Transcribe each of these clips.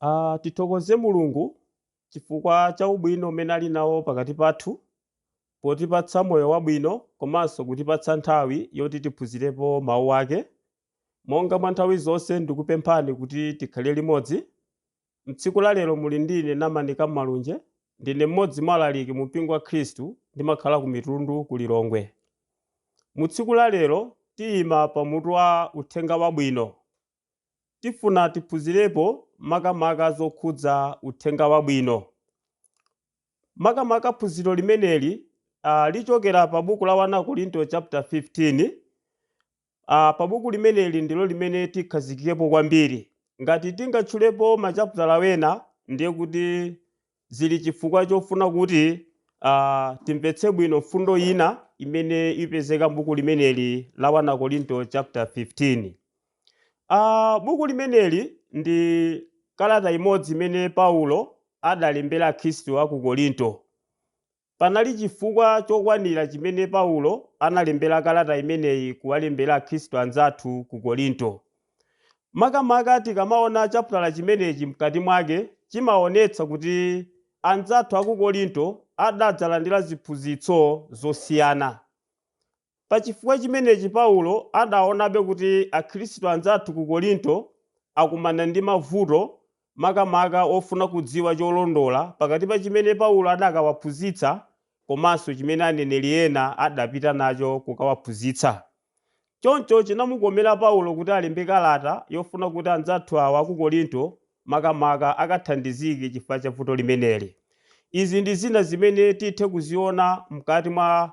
A, Tithokoze Mulungu chifukwa cha ubwino umene ali nawo pakati pathu potipatsa moyo wabwino komanso kutipatsa nthawi yoti tiphunzirepo Mawu ake. Monga mwa nthawi zonse ndikupemphani kuti tikhale limodzi. M'tsiku la lero muli ndine Namani Kammalunje, ndine mmodzi mwa alaliki mumpingo wa Khristu ndimakhala ku Mitundu ku Lilongwe. Mu tsiku la lero tiyima pa mutu wa Uthenga Wabwino. tifuna tiphunzirepo makamaka zokhudza uthenga wabwino. Makamaka phunziro limeneli ah, lichokera pa buku la 1 Akorinto chapter 15. Ah, pa buku limeneli ndilo limene tikhazikikepo kwambiri. Ngati tingatchulepo machaputala wena ndiye kuti Zili chifukwa chofuna kuti a timvetse bwino mfundo ina imene ipezeka m'buku limeneli la 1 Akorinto chapter 15. A, buku limeneli ndi kalata imodzi imene Paulo adalembera Akhristu a ku Korinto. Panali chifukwa chokwanira chimene Paulo analembera kalata imeneyi kuwalembera Akhristu anzathu ku Korinto. Makamaka tikamaona chaputala chimenechi mkati mwake, chimaonetsa kuti anzathu a ku Korinto adadzalandira ziphunzitso zosiyana. Pa chifukwa chimenechi Paulo adaonabe kuti akhristu anzathu ku Korinto akumana ndi mavuto makamaka ofuna kudziwa cholondola pakati pa chimene Paulo adakawaphunzitsa komanso chimene aneneri ena adapita nacho kukawaphunzitsa. Choncho chinamukomera Paulo kuti alembe kalata yofuna kuti anzathu awa ku Korinto makamaka akathandizike chifukwa cha vuto limeneli. Izi ndi zina zimene tithe kuziona mkati mwa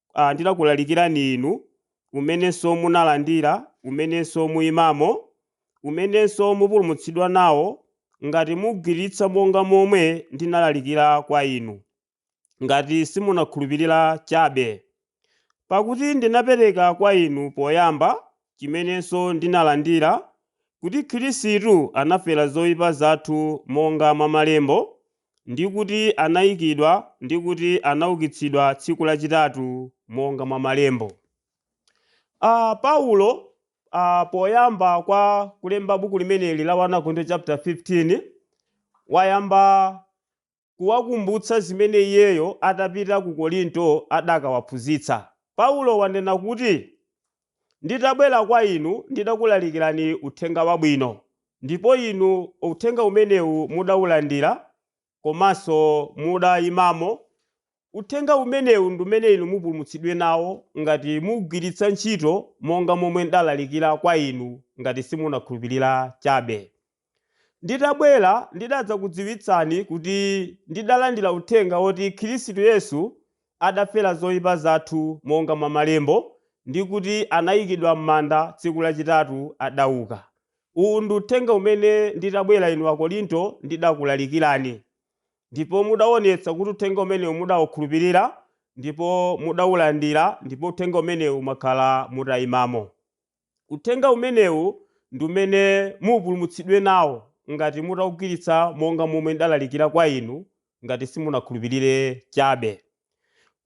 a, ndinakulalikirani inu, umenenso munalandira, umenenso muimamo, umenenso mupulumutsidwa nawo, ngati mugwiritsa monga momwe ndinalalikira kwa inu, ngati simunakhulupirira chabe. Pakuti ndinapereka kwa inu poyamba, chimenenso ndinalandira, kuti Khristu anafera zoipa zathu monga mwa malembo, ndi kuti anaikidwa ndi kuti anaukitsidwa tsiku lachitatu monga mwa malembo. A. Paulo a, poyamba kwa kulemba buku limeneli la 1 Akorinto chapter 15 wayamba kuwakumbutsa zimene iyeyo atapita ku Korinto adakawaphunzitsa. Paulo wanena kuti Nditabwera kwa inu ndidakulalikirani Uthenga Wabwino, ndipo inu Uthenga umenewu mudaulandira komanso mudaimamo. Uthenga umenewu ndi umene inu mupulumutsidwe nawo ngati mugwiritsa ntchito monga momwe ndalalikira kwa inu, ngati simunakhulupirira chabe. Nditabwera ndidadzakudziwitsani kuti ndidalandira uthenga woti Khirisitu Yesu adafera zoipa zathu monga mwa malembo, ndi kuti anaikidwa m'manda, tsiku lachitatu adauka. Uwu ndi uthenga umene nditabwera inu Akorinto ndidakulalikirani. Ndipo mudaonetsa kuti uthenga umenewu mudaukhulupirira, ndipo mudaulandira, ndipo uthenga umenewu mwakhala mutaimamo. Uthenga umenewu ndi umene mupulumutsidwe nawo ngati mutaugwiritsa monga momwe ndalalikira kwa inu, ngati simunakhulupirire chabe.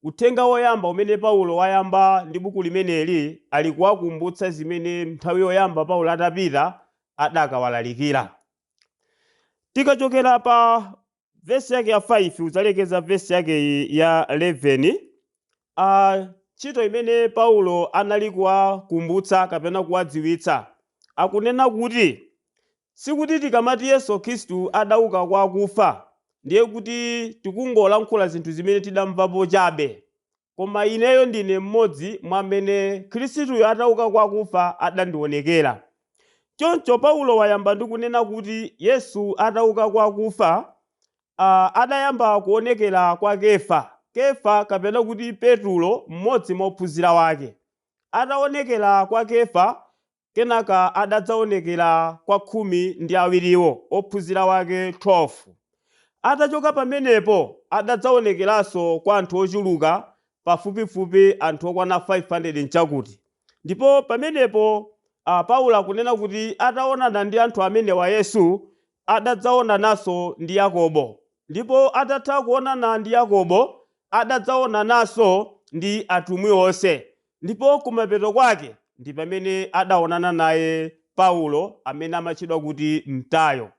Uthenga woyamba umene Paulo wayamba ndi buku limeneli ali kuwakumbutsa zimene nthawi yoyamba Paulo atapita adakawalalikira. Tikachokera pa vesi yake ya 5 kudzalekeza vesi yake iyi ya 11 a ntchito imene paulo anali kuwakumbutsa kapena kuwadziwitsa akunena kuti sikuti tikamati yesu khristu adauka kwa akufa ndiye kuti tikungolankhula zinthu zimene tidamvapo chabe Koma ineyo ndine mmodzi mwa amene Khristuyo atauka kwa akufa adandionekera. Choncho Paulo wayamba ndi kunena kuti Yesu atauka kwa akufa, a, adayamba kuonekera kwa Kefa. Kefa kapena kuti Petulo mmodzi mwa ophunzira ake. Ataonekera kwa Kefa, Kenaka adadzaonekera kwa khumi ndi awiriwo, ophunzira wake 12. Atachoka pamenepo, adadzaonekeranso kwa anthu ochuluka, pafupifupi anthu okwana 500 nchakuti. Ndipo pamenepo a, Paulo akunena kuti ataonana ndi anthu amenewa Yesu adadzaonananso ndi Yakobo, ndipo atatha kuonana ndi Yakobo, adadzaonananso ndi atumwi onse, ndipo kumapeto kwake ndi pamene adaonana naye Paulo amene amatchedwa kuti Mtayo.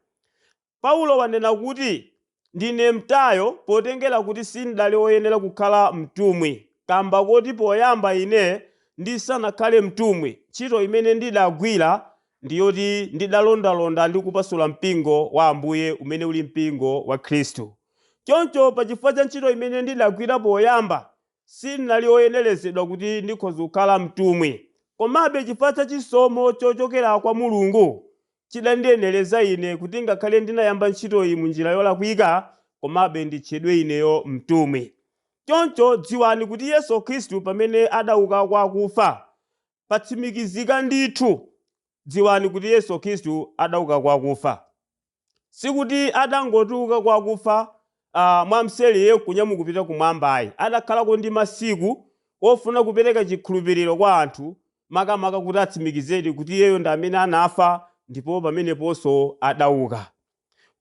Paulo wanena kuti Ndine mtayo potengera kuti sindali oyenera kukhala mtumwi, kamba koti poyamba ine ndisanakhale mtumwi, ntchito imene ndidagwira ndi yoti ndidalondalonda ndi kupasula mpingo wa Ambuye umene uli mpingo wa Khristu. Choncho pachifukwa cha ntchito imene ndidagwira poyamba, Sin'nali oyenerezedwa kuti ndikhoza kukhala mtumwi, komabe chifukwa cha chisomo chochokera kwa Mulungu chidandiyenereza ine kuti ngakhale ndinayamba ntchitoyi mu njira yolakwika, komabe nditchedwe ineyo mtumwi. Choncho dziwani kuti Yesu Khristu pamene adauka kwa akufa, patsimikizika ndithu. Dziwani kuti Yesu Khristu adauka kwa akufa. Sikuti adangotuluka kwa akufa mwamseri n'kunyamuka kupita kumwamba ayi, adakhalako ndi masiku ofuna kupereka chikhulupiriro kwa anthu makamaka kuti atsimikizedi kuti iyeyo ndi amene anafa ndipo pameneponso adauka.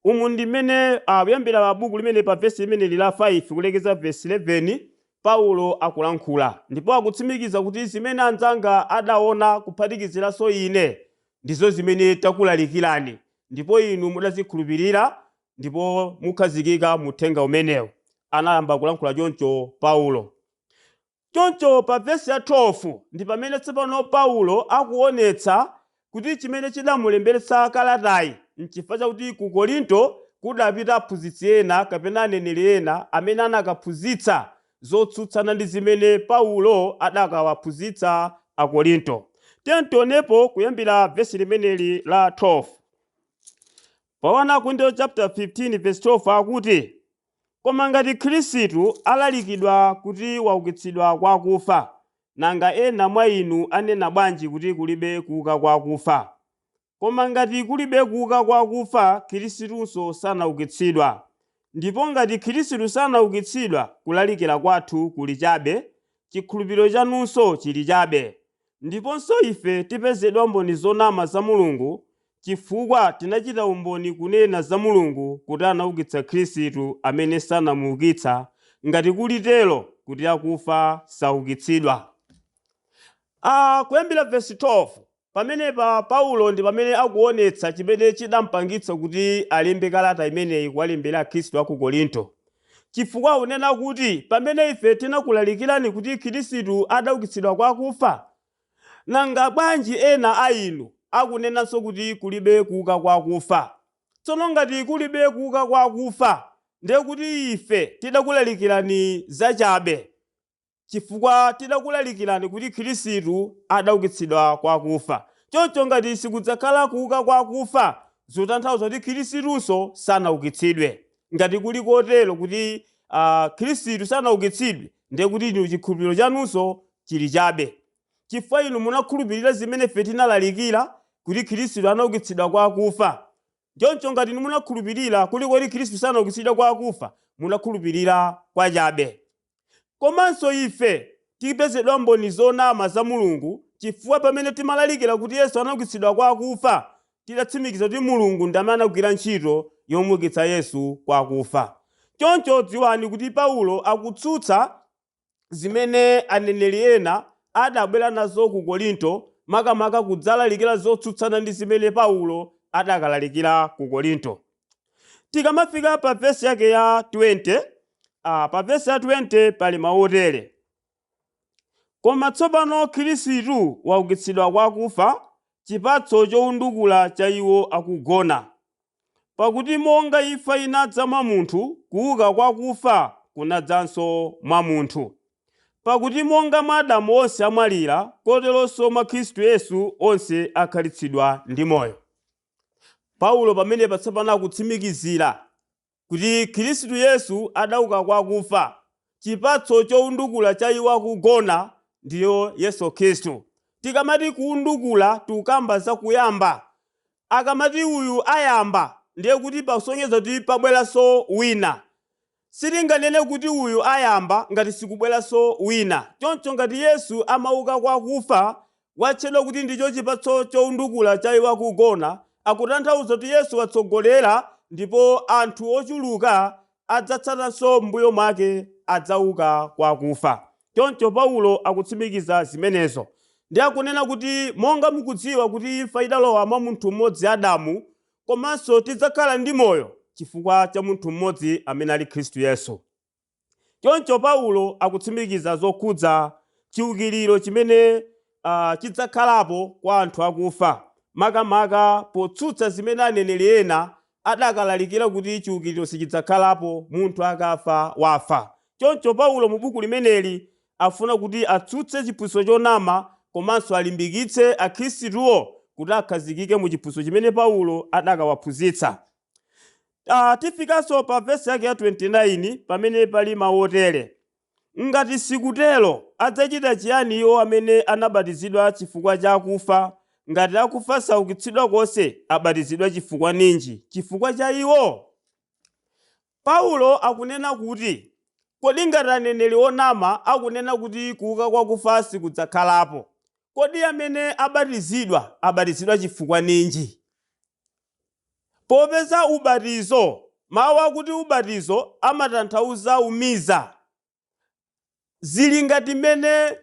Umu ndi mmene kuyambira pa buku limeneli pa vesi limeneli la 5 kulekeza vesi 11 Paulo akulankhula ndipo akutsimikiza kuti zimene anzanga adaona kuphatikiziranso ine Ndizo zimene takulalikirani, ndipo inu mudazikhulupirira, ndipo mukhazikika mu uthenga umenewu. Anayamba kulankhula choncho Paulo. Choncho pa vesi ya 12 ndi pamene tsopano Paulo akuonetsa kuti chimene chidamulemberetsa kalatayi n'chifukwa chakuti ku Korinto kudapita aphunzitsi ena kapena aneneri ena amene anakaphunzitsa zotsutsana ndi zimene Paulo adakawaphunzitsa Akorinto. Tiyeni tionepo kuyambira vesi limeneli la 12. Pa 1 Akorinto chapter 15 verse 12 akuti, Koma ngati Khristu alalikidwa kuti waukitsidwa kwa akufa, nanga ena mwa inu anena bwanji kuti kulibe kuuka kwa akufa? Koma ngati kulibe kuuka kwa akufa, Khristunso sanaukitsidwa. Ndipo ngati Khristu sanaukitsidwa, kulalikira kwathu kuli chabe, chikhulupiriro chanunso chili chabe. Ndiponso ife tipezedwa mboni zonama za Mulungu, chifukwa tinachita umboni kunena za Mulungu kuti anaukitsa Khristu amene sanamuukitsa, ngati kuli tero kuti akufa saukitsidwa. a, kuyambira vesi 12. Pamenepa Paulo ndi pamene akuonetsa chimene chidampangitsa kuti alembe kalata imeneyi kuwalembera akhristu a ku Korinto. Chifukwa akunena kuti pamene ife tinakulalikirani kuti Khristu adaukitsidwa kwa akufa, nanga bwanji ena a inu akunenanso kuti kulibe kuuka kwa akufa? Tsono ngati kulibe kuuka kwa akufa, ndiye kuti ife tidakulalikirani zachabe. chifukwa tidakulalikirani kuti Khristu adaukitsidwa kwa akufa. Choncho ngati sikudzakhala kuuka kwa akufa, zikutanthauza kuti Khristunso sanaukitsidwe. Ngati kuli kotero, kuti Khristu sanaukitsidwe, ndiye kuti inu chikhulupiriro chanunso chili chabe. Chifukwa inu munakhulupirira zimene ife tinalalikira, kuti Khristu anaukitsidwa kwa akufa. Choncho ngati inu munakhulupirira kuti Khristu sanaukitsidwe kwa akufa, munakhulupirira kwachabe. Komanso ife tipezedwa mboni zonama za Mulungu chifukwa pamene timalalikira kuti Yesu anaukitsidwa kwa akufa, tidatsimikiza kuti Mulungu ndi amene anagwira ntchito yomuukitsa Yesu kwa akufa. Choncho dziwani kuti Paulo akutsutsa zimene aneneri ena adabwera nazo ku Korinto, makamaka kudzalalikira zotsutsana ndi zimene Paulo adakalalikira ku Korinto. Tikamafika pa vesi yake ya 20, ah, pa vesi ya 20 pali mawu otere. Koma tsopano Khristu waukitsidwa kwa akufa, chipatso chowundukula cha iwo akugona. Pakuti monga imfa inadza mwa munthu, kuuka kwa akufa kunadzanso mwa munthu. Pakuti monga mwa Adamu onse amwalira, koteronso mwa Khristu Yesu onse akhalitsidwa ndi moyo. Paulo pamenepa tsopano akutsimikizira kuti Khristu Yesu adauka kwa akufa, chipatso choundukula cha iwo akugona, ndiyo Yesu Khristu. Tikamati kuundukula tukamba za kuyamba. Akamati uyu ayamba ndiye kuti pakusonyeza kuti pabweranso wina. Sitinganene kuti uyu ayamba ngati sikubweranso wina. Choncho ngati Yesu amauka kwa akufa, watchedwa kuti ndicho chipatso choundukula cha iwo akugona, akutanthauza kuti Yesu watsogolera ndipo anthu ochuluka adzatsatanso m'mbuyo mwake adzauka kwa akufa. Choncho Paulo akutsimikiza zimenezo. Ndiye akunena kuti monga mukudziwa kuti imfa idalowa mwa munthu m'modzi Adamu, komanso tidzakhala ndi moyo chifukwa cha munthu mmodzi amene ali Khristu Yesu. Choncho Paulo akutsimikiza zokhudza chiukiriro chimene ah, chidzakhalapo kwa anthu akufa, makamaka potsutsa zimene aneneri ena adakalalikira kuti chiukiriro sichidzakhalapo, munthu akafa wafa. Choncho Paulo mu buku limeneli afuna kuti atsutse chiphunzitso chonama komanso alimbikitse Akhristuwo kuti akhazikike mu chiphunzitso chimene Paulo adakawaphunzitsa. A, tifikanso pa vesi yake ya 29 pamene pali mawu otere, Ngati sikutero, adzachita chiyani iwo amene anabatizidwa chifukwa cha akufa? Ngati akufa saukitsidwa konse, abatizidwa chifukwa ninji? Chifukwa cha iwo? Paulo akunena kuti, Kodi ngati aneneri onama akunena kuti kuuka kwa akufa sikudzakhalapo, kodi amene abatizidwa abatizidwa chifukwa ninji? Popeza ubatizo, mawu akuti ubatizo amatanthauza umiza, Zili ngati mmene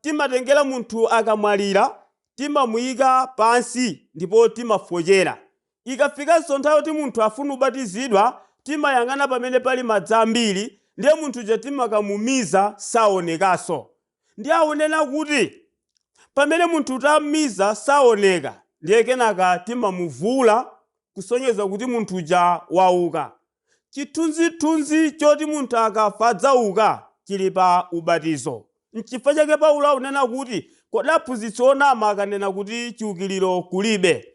timatengera munthu akamwalira, timamuika pansi ndipo timafochera. Ikafikanso nthawi yoti munthu afune kubatizidwa, timayang'ana pamene pali madzi ambiri, ndiye munthu uja timakamumiza, saonekanso. Ndiye akunena kuti pamene munthu tam'miza saoneka, ndiye kenaka timamuvuula kusonyeza kuti munthu uja wauka. Chithunzithunzi choti munthu akafa adzauka chili pa ubatizo. N'chifukwa chake Paulo akunena kuti, Kodi aphunzitsi onama akanena kuti chiukiriro kulibe,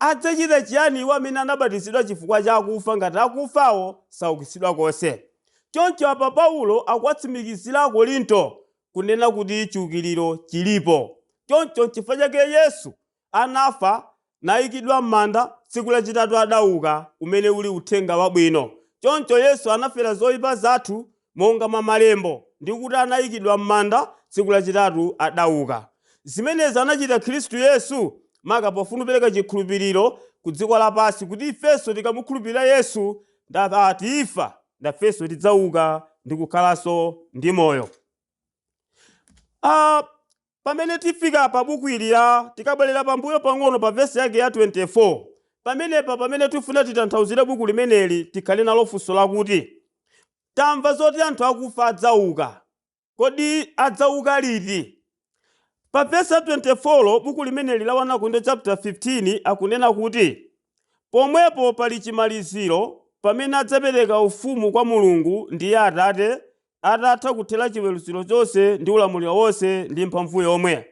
adzachita chiyani iwo amene anabatizidwa chifukwa cha akufa ngati akufawo saukitsidwa konse? Choncho apa Paulo akuwatsimikizira Akorinto kunena kuti chiukiriro chilipo. Choncho n'chifukwa chake Yesu anafa, naikidwa m'manda, tsiku lachitatu adauka, umene uli Uthenga Wabwino. Choncho Yesu anafera zoipa zathu monga mwa malembo, ndi kuti anaikidwa m'manda, tsiku lachitatu adauka. Zimenezi anachita Khristu Yesu maka pofuna kupereka chikhulupiriro ku dziko lapansi kuti ifenso tikamukhulupirira Yesu n'kuti tifa, nafenso tidzauka ndi kukhalanso ndi moyo. Pamene tifika pa buku ili la, tikabwerera pambuyo pang'ono pa vesi yake ya 24, pamenepa pamene tifuna titanthauzire buku limeneli tikhale nalo funso lakuti, Tamva zoti anthu akufa adzauka. Kodi adzauka liti? Pa vesi ya 24 buku limeneli la 1 Akorinto chaputala 15 akunena kuti, Pomwepo pali chimaliziro, pamene adzapereka ufumu kwa Mulungu, ndiye Atate, atatha kuthera chiweruziro chonse ndi ulamuliro wonse ndi mphamvu yomwe.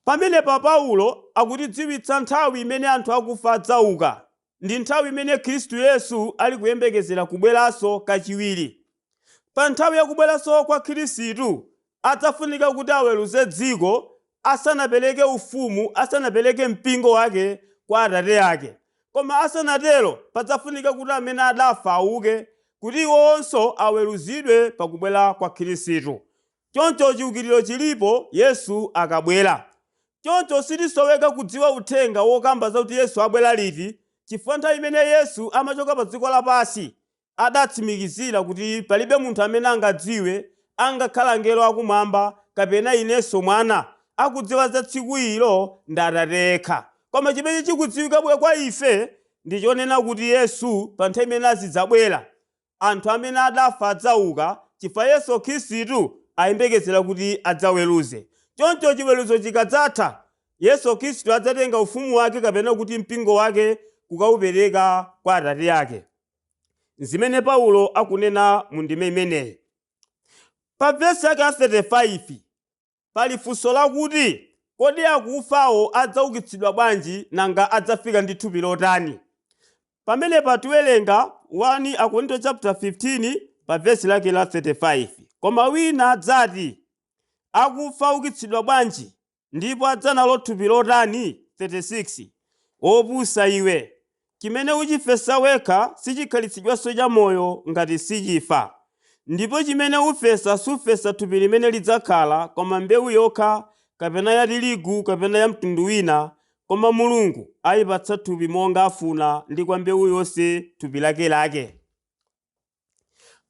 Pamenepa Paulo akutidziwitsa nthawi imene anthu akufa adzauka ndi nthawi imene Khristu Yesu ali kuyembekezera kubweranso kachiwiri. Pa nthawi ya kubweranso kwa Khristu, adzafunika kuti aweruze dziko asanapereke Ufumu, asanapereke Mpingo Wake kwa Atate Ake. Koma asanatero, padzafunika kuti amene adafa auke, kuti iwowonso aweruzidwe pa kubwera kwa Khristu. Choncho chiukiriro chilipo Yesu akabwera. Choncho sitisoweka kudziwa uthenga wokamba zakuti Yesu abwera liti, chifukwa nthawi imene Yesu amachoka pa dziko lapansi adatsimikizira kuti palibe munthu amene angadziwe, angakhale angelo akumwamba kapena inenso Mwana, akudziwa za tsiku ilo ndi Atate yekha. Koma chimene chikudziwika bwino kwa ife ndi chonena kuti Yesu pa nthawi imene azidzabwera, anthu amene adafa adzauka chifukwa Yesu Khristu ayembekezera kuti adzaweruze. Choncho chiweruzo chikadzatha, Yesu Khristu adzatenga ufumu wake kapena kuti mpingo wake kukaupereka kwa Atate ake. N'zimene Paulo akunena mu ndime imeneyi. Pa vesi lake la 35, pali funso lakuti, Kodi akufawo adzaukitsidwa bwanji, nanga adzafika ndi thupi lotani? Pamenepa tiwelenga 1 Akorinto chaputala 15 pa vesi lake la 35. Koma wina adzati, Akufa aukitsidwa bwanji? Ndipo adza nalo thupi lotani? 36 opusa iwe, chimene uchifesa wekha sichikhalitsidwanso chamoyo, ngati sichifa, ndipo chimene ufesa sufesa thupi limene lidzakhala, koma mbewu yokha, kapena ya tirigu, kapena ya mtundu wina, koma Mulungu aipatsa thupi monga afuna, ndi kwa mbewu yonse thupi lake lake.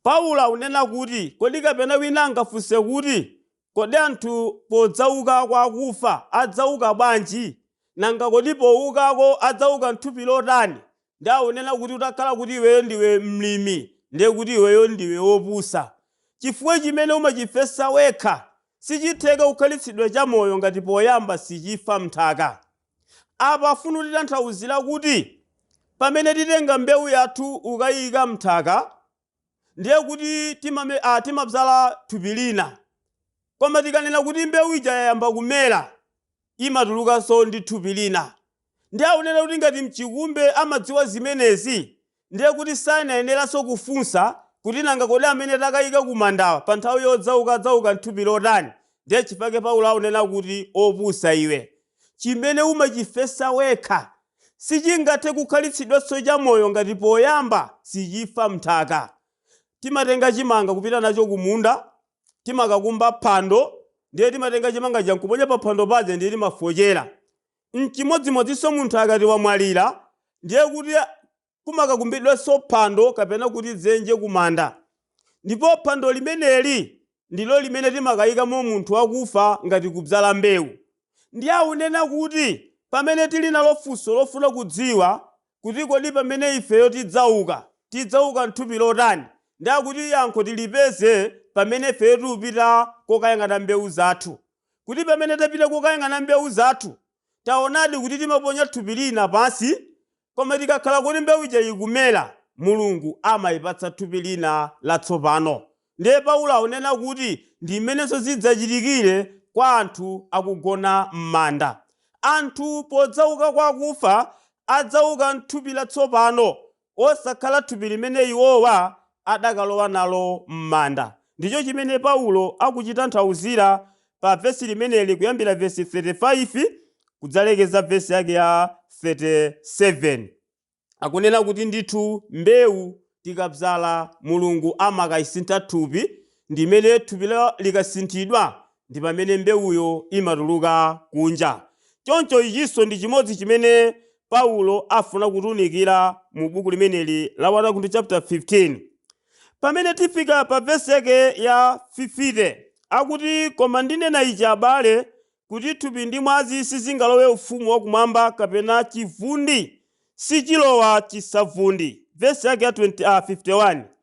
Paulo akunena kuti, Kodi kapena wina angafunse kuti, Kodi anthu podzauka kwa akufa adzauka bwanji? Nanga kodi poukako adzauka m'thupi lotani? Ndiye akunena kuti, Utakhala kuti iweyo ndiwe mlimi, ndiye kuti iweyo ndiwe wopusa. Chifukwa chimene umachifesa wekha sichitheka kukhalitsidwa chamoyo ngati poyamba sichifa m'nthaka. Apa afuna kutitanthauzira kuti pamene titenga mbewu yathu n'kukayiyika mnthaka ndiye kuti timame a timabzala thupi lina koma tikanena kuti mbewu ija yayamba kumera imatulukanso ndi thupi lina ndiye akunena kuti ngati mchikumbe amadziwa zimenezi Ndiye kuti sanayeneranso kufunsa kuti nanga kodi amene takayika kumandawa pa nthawi yodzauka adzauka m'thupi lotani? Ndiye chifukwa chake Paulo aunena kuti opusa iwe, chimene umachifesa wekha, sichingathe kukhalitsidwanso chamoyo ngati poyamba sichifa m'nthaka. Timatenga chimanga kupita nacho kumunda, timakakumba phando, ndiye timatenga chimanga chija nkuponya paphando paja ndiye timafochera. N'chimodzimodzinso munthu akati wamwalira, ndiye kuti kumakakumbidwanso phando kapena kuti dzenje kumanda. Ndipo phando limeneli ndilo limene timakaikamo munthu wakufa ngati kubzala mbewu. Ndiye akunena kuti pamene tili nalo funso lofuna kudziwa kuti kodi pamene ifeyo tidzauka, tidzauka m'thupi lotani, ndiye akuti yankho tilipeze pamene ifeyo tikupita kokayang'ana mbewu zathu. kuti pamene tapita kukayang'ana mbewu zathu, taonadi kuti timaponya thupi lina pansi, koma tikakhala kuti mbewu ija ikumera, Mulungu amayipatsa thupi lina latsopano. Ndiye Paulo akunena kuti ndi mmenenso zidzachitikire kwa anthu akugona m'manda. Anthu podzauka kwa akufa, adzauka m'thupi latsopano osakhala thupi limene iwowa adakalowa nalo m'manda. Ndicho chimene Paulo akuchitanthauzira pa vesi limeneli kuyambira vesi 35 kudzalekeza vesi yake ya 37. Akunena kuti ndithu mbewu tikabzala Mulungu amakaisintha thupi ndi mmene thupi likasinthidwa ndi pamene mbewuyo imatuluka kunja. Choncho ichinso ndi chimodzi chimene Paulo afuna kutiunikira mu buku limeneli la 1 Akorinto chapter 15. Pamene tifika pa vesi yake ya 50, akuti, Koma ndinena ichi, abale, kuti thupi ndi mwazi sizingalowe ufumu wa kumwamba, kapena chivundi sichilowa chisavundi. Vesi yake ya 20, ah, 51.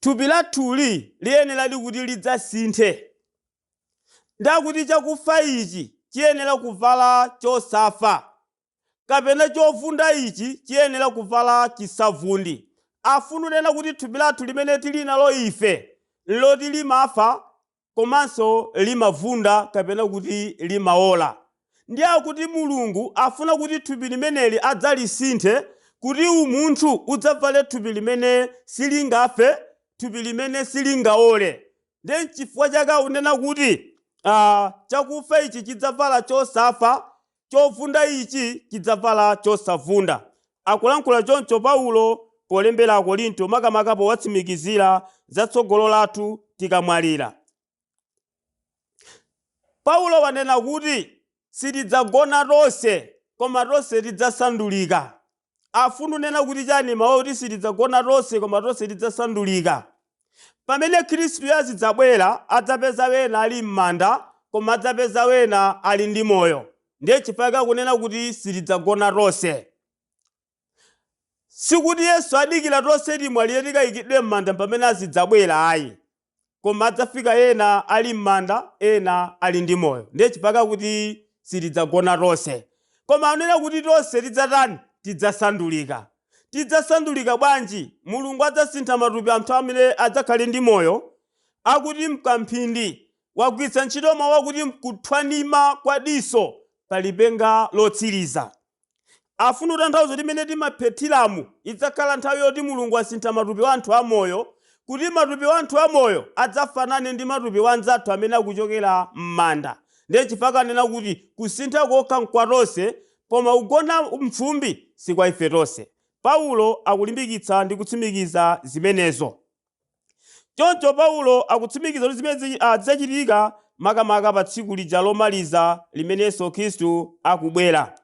Thupi lathuli liyeneradi kuti lidzasinthe. Ndi akuti chakufa ichi chiyenera kuvala chosafa, kapena chovunda ichi chiyenera kuvala chisavundi. Afuna kunena kuti thupi lathu limene tili nalo ife n'loti limafa komanso limavunda kapena kuti limaola. Ndiye akuti Mulungu afuna kuti thupi limeneli adzalisinthe kuti umunthu udzavale thupi limene silingafe, thupi limene silingaole. Ndiye n'chifukwa chake akunena kuti chakufa ichi chidzavala chosafa Chovunda ichi chidzavala chosavunda. Akulankhula choncho Paulo polembera Akorinto makamaka powatsimikizira za tsogolo lathu tikamwalira. Paulo wanena kuti sitidzagona tonse, koma tonse tidzasandulika. Afuna kunena kuti chani mawu akuti sitidzagona tonse koma tonse tidzasandulika? Pamene Khristuyo azidzabwera adzapeza wena ali mmanda koma adzapeza wena ali ndi moyo ndiye chifukwa chake akunena kuti sitidzagona tonse. Sikuti Yesu adikira tonse timwalire tikaikidwe mmanda mpamene azidzabwera ayi. koma adzafika ena ali mmanda ena ali ndi moyo ndiye chifukwa akuti sitidzagona tonse koma anena kuti tonse tidzatani tidzasandulika tidzasandulika bwanji mulungu adzasintha matupi a anthu amene adzakhale ndi moyo akuti mkamphindi wagwiritsa ntchito mawu akuti mkuthwanima kwa diso pa lipenga lotsiriza Afuna kutanthauza kuti mmene timaphethiramu idzakhala nthawi yoti Mulungu asintha matupi a anthu amoyo kuti matupi a anthu amoyo adzafanane ndi matupi a anzathu amene akuchokera m'manda ndiye chifukwa chake anena kuti kusintha kokha nkwa tonse koma kugona m'fumbi si kwa ife tonse Paulo akulimbikitsa ndi kutsimikiza zimenezo. Choncho Paulo akutsimikiza kuti zimenezi a, zidzachitika makamaka pa tsiku lija lomaliza limene Yesu Khristu akubwera.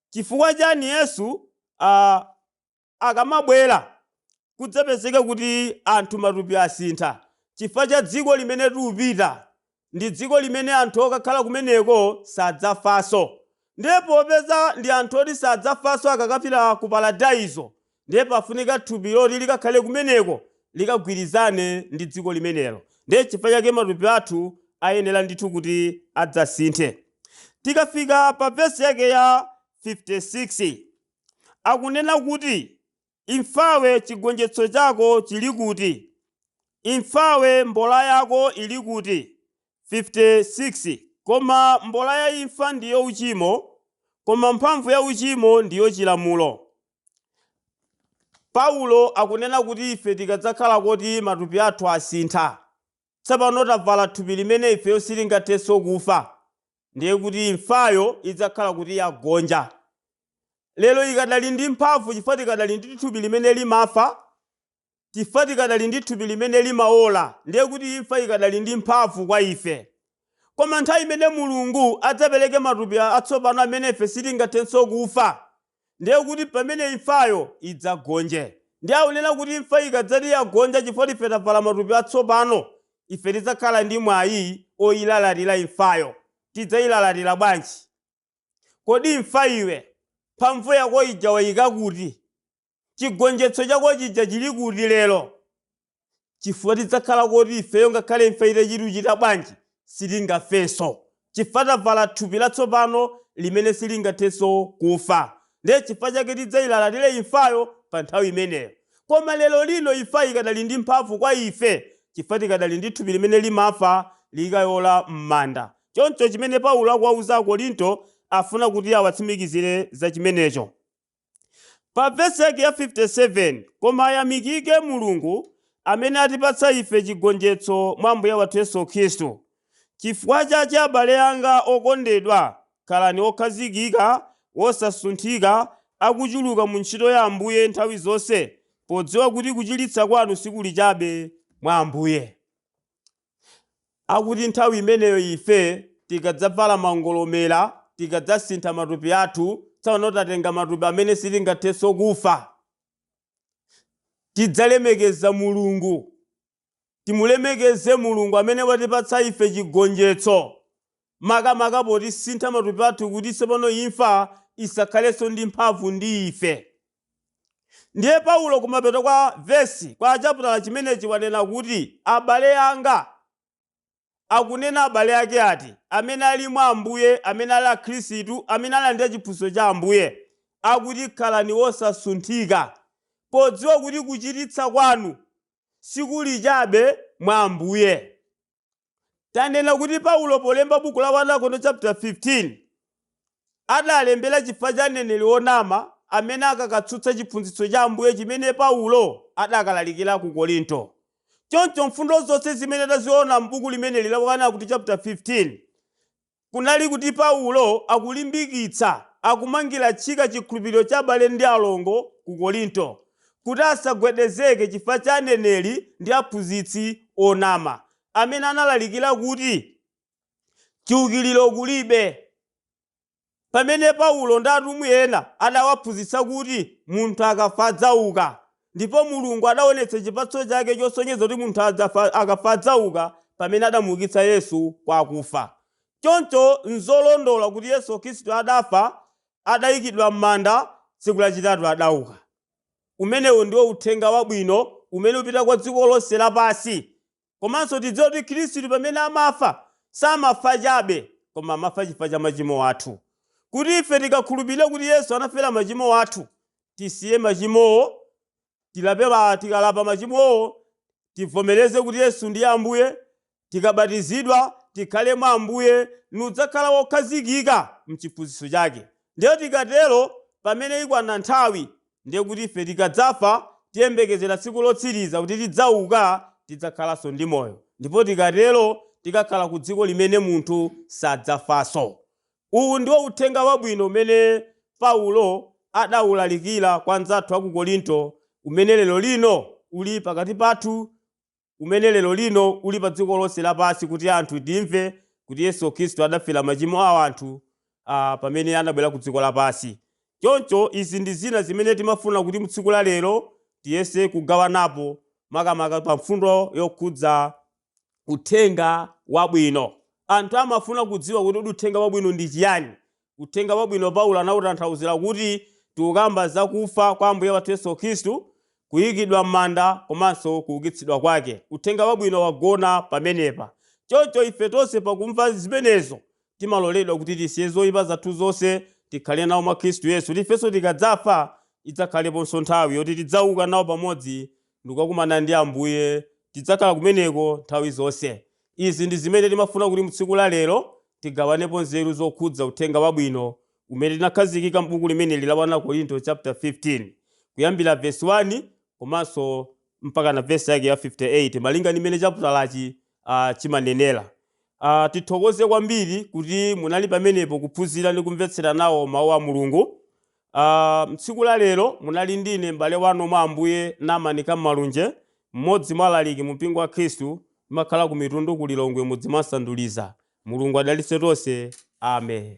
Chifukwa chani Yesu a, akamabwera kudzapezeka kuti anthu matupi asintha? Chifukwa cha dziko limene tikupita Ndi dziko limene anthu okakhala kumeneko sadzafanso. Ndiye popeza ndi anthu oti sadzafanso akakapita ku Paradaiso, ndiye pafunika thupi loti likakhale kumeneko, likagwirizane ndi dziko limenelo. Ndiye chifukwa chake matupi athu ayenera ndithu kuti adzasinthe. Tikafika pa vesi yake ya 56, akunena kuti Imfawe chigonjetso chako chili kuti? Imfawe mbola yako ili kuti? 56 koma mbola ya imfa ndiyo uchimo, koma mphamvu ya uchimo ndiyo chilamulo. Paulo akunena kuti ife tikadzakhala koti matupi athu asintha, tsopano tavala thupi limene ifeyo sitingathenso kufa, ndiye kuti imfayo idzakhala kuti yagonja. lero ikadali ndi mphamvu chifukwa tikadali ndi thupi limene limafa, chifukwa tikadali ndi thupi limene limaola, ndiye kuti imfa ikadali ndi mphamvu kwa ife. Koma nthawi imene Mulungu adzapereke matupi atsopano amene ife sitingathenso kufa, ndiye kuti pamene imfayo idzagonje. Ndiye akunena kuti imfa ikadzati yagonja chifukwa choti ife tavala matupi atsopano, ife tidzakhala ndi mwayi oilalatira imfayo. Tidzailalatira bwanji? Kodi imfa iwe, mphamvu yako ija waika kuti? Chigonjetso chako chija chili kuti lero? Chifukwa tidzakhala koti ifeyo ngakhale imfa itachituchita bwanji, sitingafenso. Chifukwa tavala thupi latsopano limene silingathenso kufa. Ndiye chifukwa chake tidzailalatire imfayo pa nthawi imeneyo. Koma lerolino imfa ikadali ndi mphamvu kwa ife chifukwa tikadali ndi thupi limene limafa likaola m'manda. Choncho chimene Paulo akuwauza Akorinto afuna kuti awatsimikizire za chimenecho. Pa vesi yake ya 57, koma ayamikike Mulungu amene atipatsa ife chigonjetso mwa Ambuye wathu Yesu Khristu. Chifukwa chache abale anga okondedwa, khalani okhazikika, wosasunthika, akuchuluka mu ntchito ya Ambuye nthawi zonse, podziwa kuti kuchititsa kwanu sikuli chabe mwa Ambuye. Akuti nthawi imeneyo ife tikadzavala mangolomera, tikadzasintha matupi athu, tsopano tatenga matupi amene sitingathenso kufa, tidzalemekeza Mulungu, timulemekeze Mulungu amene watipatsa ife chigonjetso, makamaka potisintha matupi athu kuti tsopano imfa isakhalenso ndi mphamvu ndi ife. Ndiye Paulo kumapeto kwa vesi, kwa chaputala chimenechi wanena kuti, Abale anga, akunena abale ake ati? Amene ali mwa Ambuye, amene ali Akhristu, amene alandira chiphunzitso cha Ambuye. Akuti khalani wosasunthika, podziwa kuti kuchiritsa kwanu sikuli chabe mwa Ambuye. Tanena kuti Paulo polemba buku la 1 Akorinto chaputa 15, adalembera chifukwa cha mneneri wonama amene akakatsutsa chiphunzitso cha Ambuye chimene Paulo adakalalikira ku Korinto. Choncho mfundo zonse zimene taziona m'buku limeneli la 1 Akorinto chaputa 15, kunali kuti Paulo akulimbikitsa, akumangira tchika chikhulupiriro cha abale ndi alongo ku Korinto, kuti asagwedezeke chifukwa cha aneneri ndi aphunzitsi onama, amene analalikira kuti chiukiriro kulibe. Pamene Paulo ndi atumwi ena adawaphunzitsa kuti munthu akafa adzauka, ndipo Mulungu adaonetsa chipatso chake chosonyeza kuti munthu akafa adzauka pamene adamuukitsa Yesu kwa akufa. Choncho n'zolondola kuti Yesu Khristu adafa, adaikidwa m'manda, tsiku lachitatu adauka. Umenewu ndiwo Uthenga Wabwino umene upita kwa dziko lonse lapansi Komanso tidziwe kuti Khristu pamene amafa, samafa chabe, koma amafa chifukwa cha machimo athu. Kuti ife tikakhulupirire kuti Yesu anafera machimo athu, tisiye machimowo, tikalapa machimowo, tivomereze kuti Yesu ndiye Ambuye, tikabatizidwa, tikhale mwa Ambuye, nudzakhala wokhazikika m'chiphunzitso chake. Ndiye tikatero, pamene ikwana nthawi, Ndiye kuti ife tikadzafa, tiyembekezera tsiku lotsiriza kuti tidzauka, tidzakhalanso ndi moyo. Ndipo tikatero, tikakhala ku dziko limene munthu sadzafanso. Uwu ndiwo uthenga wabwino umene Paulo adaulalikira kwa anzathu a ku Korinto, umene lero lino uli pakati pathu. umene lero lino uli pa dziko lonse lapansi kuti anthu timve kuti Yesu Khristu adafera machimo a anthu pamene anabwera ku dziko lapansi. Choncho izi ndi zina zimene timafuna kuti m'tsiku la lero tiyese kugawanapo makamaka pa mfundo yokhudza uthenga wabwino. Anthu amafuna kudziwa kuti kodi uthenga wabwino ndi chiyani? Uthenga Wabwino Paulo anautanthauzira kuti tikukamba za kufa kwa Ambuye wathu Yesu Khristu, kuikidwa m'manda komanso kuukitsidwa kwake. Uthenga Wabwino wagona pamenepa. Choncho ife tonse pakumva zimenezo, timaloledwa kuti tisiye zoipa zathu zonse, tikhale nawo mwa Khristu Yesu, kuti ifenso tikadzafa idzakhaleponso nthawi yoti tidzauka nawo pamodzi ndi kukakumana ndi Ambuye. Tidzakhala kumeneko nthawi zonse. Izi ndi zimene timafuna kuti mu tsiku la lero tigawanepo nzeru zokhudza uthenga wabwino umene tinakhazikika m'buku limeneli la 1 Akorinto chapter 15 kuyambira verse 1 komanso mpakana verse yake ya 58 malinga ndi mmene chaputalachi ah, chimanenera. Ah, tithokoze kwambiri kuti munali pamenepo kuphunzira ndi kumvetsera nawo mawu a Mulungu. Aaa mtsiku la lero munali ndine m'bale wanu mwa ambuye Naman Kammalunje, m'modzi mwa alaliki mu mpingo wa khristu, ndimakhala ku mitundu ku Lilongwe mudzi mwa Nsanduliza. Mulungu adalitse tonse. Amen.